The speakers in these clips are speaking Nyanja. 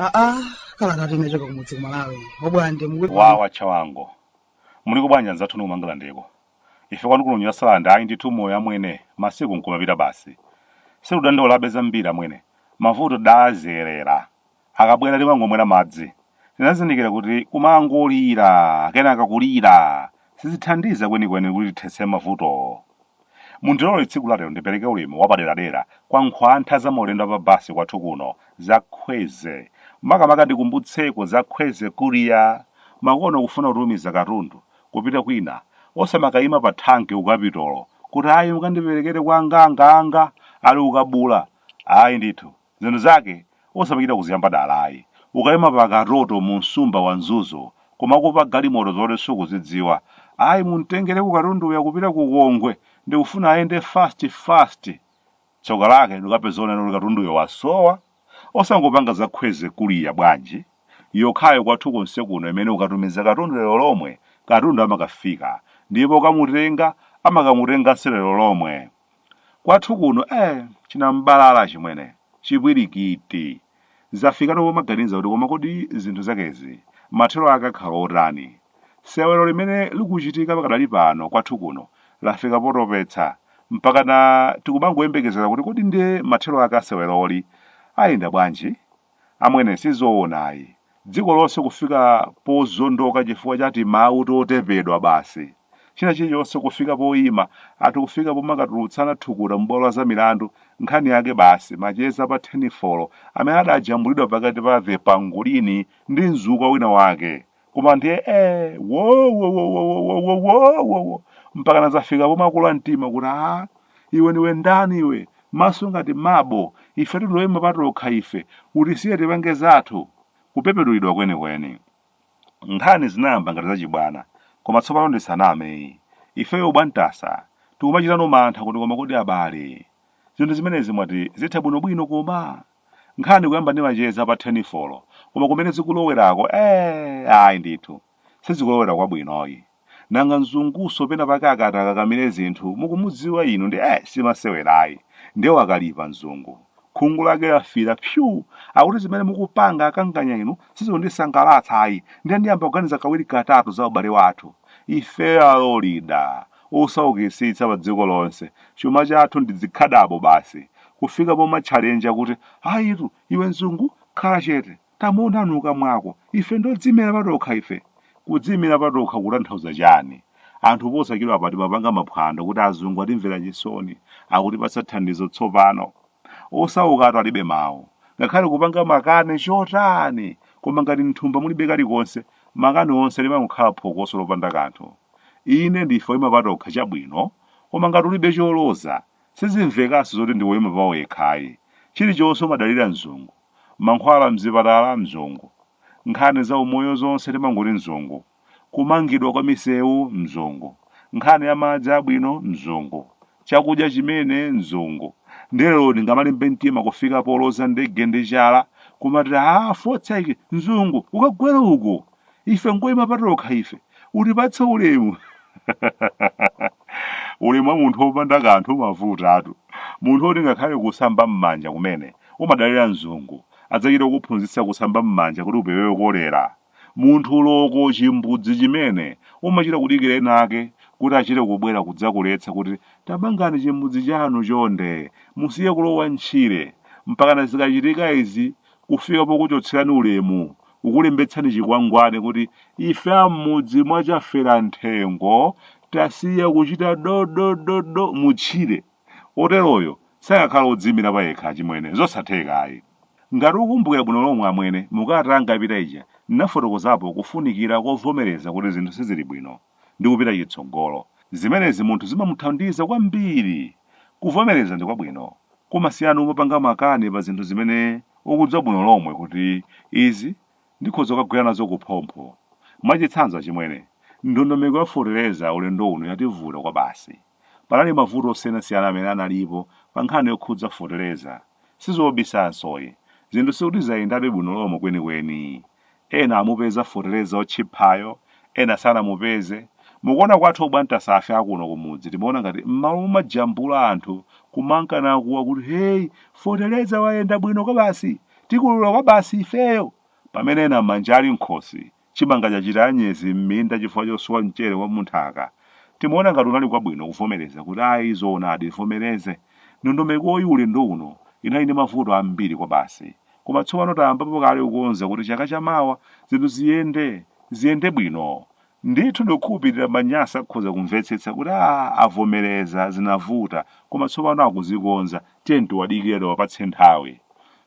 aa kalata yochoka kumudzi kumalawi obwande mukuti wawa chawango muliko bwanji anzathu inu kumangalandeko ife kwanu kuno ku nyasalande ayi ndithu moyo amwene masiku nkumapita basi sitidandaulabe zambiri amwene mavuto tidazolowera Akabwera timangomwera madzi. Tinazindikira kuti kumangolira kenaka kulira sizithandiza kwenikweni kuti tithetse mavutowo. Mundilole tsiku lalero ndipereke ulemu wapaderadera kwa nkhwantha za maulendo a pa basi kwathu kuno za Kwezy. Makamaka ndikumbutseko za Kwezy Courier. Makono kufuna kutumiza katundu kupita kwina osamakayima pa thanki ku kapitolo kuti ayi mukandiperekere kwa anganga anga ali ku Kabula. Ayi ndithu. Zinthu zake osamachita kuziyamba dala ayi. Ukaima pa katoto mu msumba wa Mzuzu kumakupa galimoto zoti sukuzidziwa. Ayi mumtengereko katunduyo akupita ku Kongwe ndikufuna ayende fast fast. Tsoka lake ndikukapeza onena kuti katunduyo wasowa. Osangopanga za Kwezy Courier bwanji? Yokhayo kwathu konse kuno imene ukatumiza katundu lero lomwe katundu amakafika ndipo okamutenga amakamutenganso lero lomwe. Kwathu kuno eh chinam'balala chimwene, chipwirikiti. Zafikano pomaganiza kuti koma kodi zinthu zakezi mathero ake akhala otani? Sewero limene likuchitika pakadali pano kwathu kuno lafika potopetsa mpakana tikumangoyembekezera kuti kodi ndiye mathero ake a seweroli ayenda bwanji? Amwene sizoona ayi. Dziko lonse kufika pozondoka chifukwa cha timawu totepedwa basi. China chilichonse kufika poima ati kufika pomakatulutsana thukuta mubwalo la zamilandu nkhani yake basi macheza a pa thenifolo amene adajambulidwa pakati pa the Pangolini ndi mzukwa wina wake koma ndiye eh wo wo wo wo wo wo wo wo wo wo mpakana zafika pomwe akula mtima kuti a iwe ndiwe ndani iwe maso ngati mabo ife tili oyima patokha ife utisiye tipange zathu kupepedulidwa kwenikweni nkhani zinayamba ngati zachibwana koma tsopano ndisanameyi ifeyo bwantasa tikumachitano mantha kuti koma kodi abale zinthu zimenezi mwati zitha bwinobwino koma Nkhani kuyamba ndi macheza pa thenifolo, koma kumene zikulowerako eeh ayi ndithu. Sizikulowera kwabwinoyi. Nanga mzungunso pena pake akati akakamire zinthu mukumudziwa inu ndi eeh simasewerayi. Nde wakalipa mzungu. Khungu lake lafiira psuu! Akuti zimene mukupanga akanganya inu sizikundisangalatsa ayi nde ndiyamba kuganiza kawiri katatu za ubale wathu ifeyo alolida. osaukisitsa pa dziko lonse, chuma chathu ndi dzikhadabo basi, kufika pomatchalenja kuti ayitu, iwe mzungu? khala chete, tamuona nkamwa mwako, ife ndi odziimira patokha ife. Kudziimira patokha kutanthauza chani? Anthu posachedwapa timapanga maphwando kuti azungu atimvera chisoni, akutipatsa thandizo tsopano. Osaukatu alibe mawu. Ngakhale kupanga makani chotani, koma ngati m'thumba mulibe kalikonse, makani onse limangokhala phokoso lopanda kanthu. Inde, ndife oima patokha, chabwino, koma ngati ulibe choloza, sizimvekanso zoti ndiwe woima pawekha ayi. Chilichonse umadalira mzungu. Mankhwala m'zipatala, mzungu. Nkhani zaumoyo zonse timangoti mzungu. kumangidwa kwa misewu mzungu nkhani ya madzi abwino mzungu chakudya chimene mzungu nde lero di ngamalimbe mtima kufika poloza ndege ndi chala kumati a fotseki mzungu ukagwera uko ife ngoyima patokha ife utipatse ulemu ulemu wa munthu wopanda kanthu umavutatu munthu woti ngakhale kusamba m'manja kumene umadalira mzungu adzachita kukuphunzitsa kusamba m'manja kuti upewe kolera Munthu loko chimbudzi chimene umachita kudikira ena ake kuti achite kubwera kudzakuletsa kuti tamangani chimbudzi chanu chonde musiye kulowa ntchire mpakana zikachitika izi kufika pokuchotserani ulemu kukulembetsani chikwangwani kuti ife a mmudzi mwa Chaferanthengo tasiya kuchita dodododo mu tchire Woteroyo sangakhale wodziimira payekha, achimwene. Nzosatheka ayi. Ngati ukumbukira bwino lomwe, amwene, mu kalata yanga yapita ija, ndinafotokozapo kufunikira kovomereza kuti zinthu siziri bwino, ndi kupita chitsogolo. Zimenezi munthu zimamuthandiza kwambiri! Kuvomereza ndi kwabwino. Kumasiyana n'kumapanga makani pa zinthu zimene ukudziwa bwino lomwe kuti izi ndikhoza kukagwera nazo kuphompho. Mwachitsanzo, achimwene, ndondomeko ya feteleza ulendo uno yativuta kwabasi. Panali mavuto osiyanasiyana amene analipo pa nkhani yokhudza foteleza. Sizobisanso ayi. Zinthu sikuti zayendabe bwino lomwe kwenikweni. Ena amupeza foteleza otchiphayo, ena sanamupeze. Mukuona kwathu obwantasafe a kuno kumudzi timaona ngati m'malo momajambula anthu kumanka nakuwa kuti hey foteleza wayenda bwino kwabasi, tikolola kwabasi ifeyo! pamene ena manja ali m'khosi Chimanga chachita anyezi m'minda chifukwa chosowa mchere wa munthaka. Timaona ngati kunali kwabwino kuvomereza kuti ayi zoonadi tivomereze. Ndondomekoyi ulendo uno inali ndi mavuto ambiri kwabasi. Koma tsopano tayambapo kale kukonza kuti chaka cha mawa zinthu ziyende, ziyende bwino. Ndithu ndikukhulupirira Manyasa akhoza kumvetsetsa kuti aah avomereza zinavuta koma tsopano akuzikonza. tiyeni tiwadikire tiwapatse nthawi.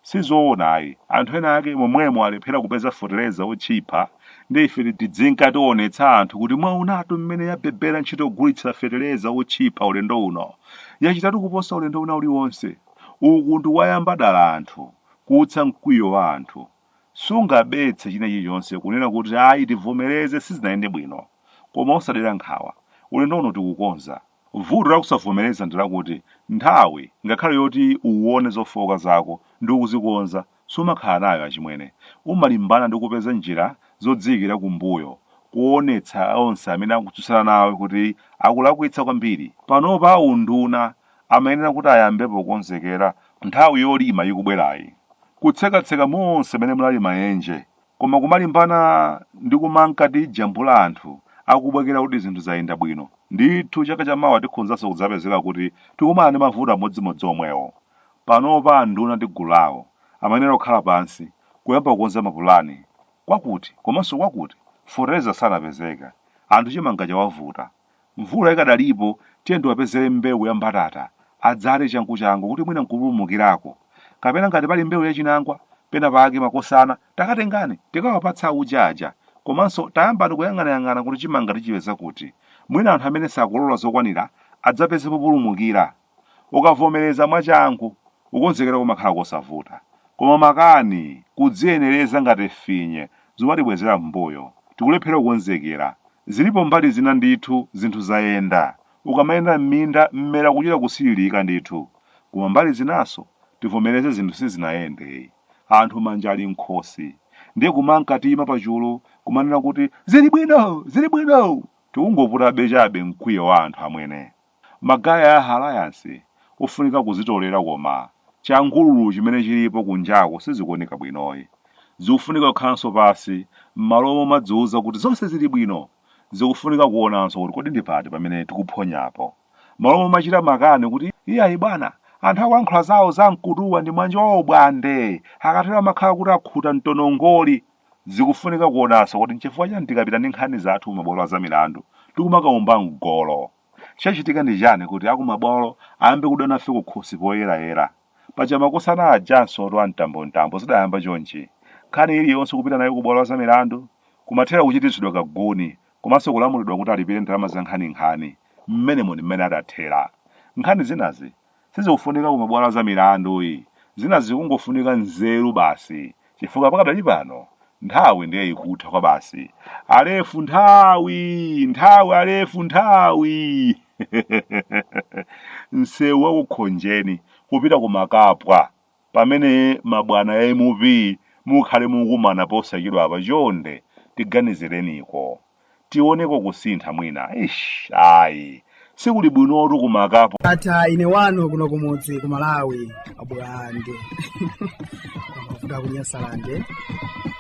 Sizoona ayi, anthu ena ake momwemo alephera kupeza fetereza otchipha ndi ife tidzinka tionetsa anthu kuti mwaonatu mmene yabebera ntchito yogulitsira fetereza otchipha ulendo uno. Yachitatu kuposa ulendo wina uliwonse. Uku ndi kuwayamba dala anthu, kuutsa mkwiyo wa anthu. Sungabetse china chilichonse kunena kuti ayi tivomereze sizinayende bwino. Koma osadera nkhawa, ulendo uno tikukonza. Vuto la kusavomereza ndi lakuti nthawi, ngakhale yoti uwone zofooka zako ndi kuzikonza, sumakhala nayo, achimwene. Umalimbana ndi kupeza njira zodziikira kumbuyo, kuonetsa onse amene akutsutsana nawe kuti akulakwitsa kwambiri. Panopa a unduna amayenera kuti ayambepo kukonzekera nthawi yolima ikubwerayi, kutsekatseka monse mene munali maenje, Koma kumalimbana ndi kumanka tijambula anthu akubwekera kuti zinthu zayenda bwino, ndithu chaka cha mawa tikhonzanso kudzapezeka kuti tikumana ndi mavuto amodzimodzi omwewo. Panopa anduna ndi gulu lawo amayenera kukhala pansi kuyamba kukonza mapulani. Kwakuti komanso kwakuti fetereza sanapezeka, anthu chimanga chawavuta. Mvula ikadalipo, tiyeni tiwapezere mbewu ya mbatata, adzale changuchangu kuti mwina nkupulumukirako. Kapena ngati pali mbewu ya chinangwa pena pake makosana, takatengani tikawapatse auje aja. Komanso tayambani kuyang'anayang'ana kuti chimanga tichipeza kuti. Mwina anthu amene sakolola zokwanira adzapeze populumukira. Ukavomereza mwachangu, kukonzekera kumakhala kosavuta. Koma makani, kudziyenereza ngati finye, zumatibwezera m'mbuyo. Tikulephera kukonzekera. Zilipo mbali zina ndithu zinthu zayenda. Ukamayenda m'minda mmera ukuchita kusililika ndithu. Koma mbali zinanso, tivomereze zinthu sizinayende. Anthu manja ali mkhosi. Ndiye kumanka tiima pachulu kumanena kuti zili bwino! Zili bwino! Tikungoputabe chabe mkwiyo wa anthu amwene. Magaya a Alayansi ofunika kuzitolera koma changululu chimene chilipo kunjaku sizikuoneka bwinoyi. Zikufunika kukhalanso pansi mmalo momadziuza kuti zonse zili bwino zikufunika kuonanso kuti kodi ndi pati pamene tikuphonyapo. Mmalo momachita makani kuti iyayi bwana anthu akulankhula zawo za mkutuwa ndi nsanje yawo bwana. Nde akatero amakhala kuti akhuta mtonongoli zikufunika kuonanso kuti nchifukwa chani tikapita ndi nkhani zathu ku mabwalo a zamilandu tikumakaomba mgolo. Chachitika ndi chani kuti akumabwalo ayambe kudana nafe kukhosi poyerayera? Paja makosana ajanso oti a mtambomtambo zidayamba chonchi? Nkhani iliyonse kupita nayo kubwalo la zamilandu? Kumathera kuchititsidwa kaguni komanso kulamulidwa kuti alipire ndalama zankhaninkhani. Mmenemo ndi mmene adathera. Nkhani zinazi sizikufunika ku mabwalo a milandu ayi, zinazi kungofunika nzeru basi chifukwa pakadali pano nthawi ndiye ikutha kwa basi. Alefu nthawi! Nthawi Alefu nthawi! Nsewu wa ku Khonjeni kupita ku Makapwa pamene mabwana ya mp mukhale mukumana posachedwa apa chonde tiganizireniko tioneko kusintha mwina eish ayi sikuli bwinotu ku Makapwa ndatha ine wanu kuno kumudzi ku malawi a Bulande a ku Nyasalande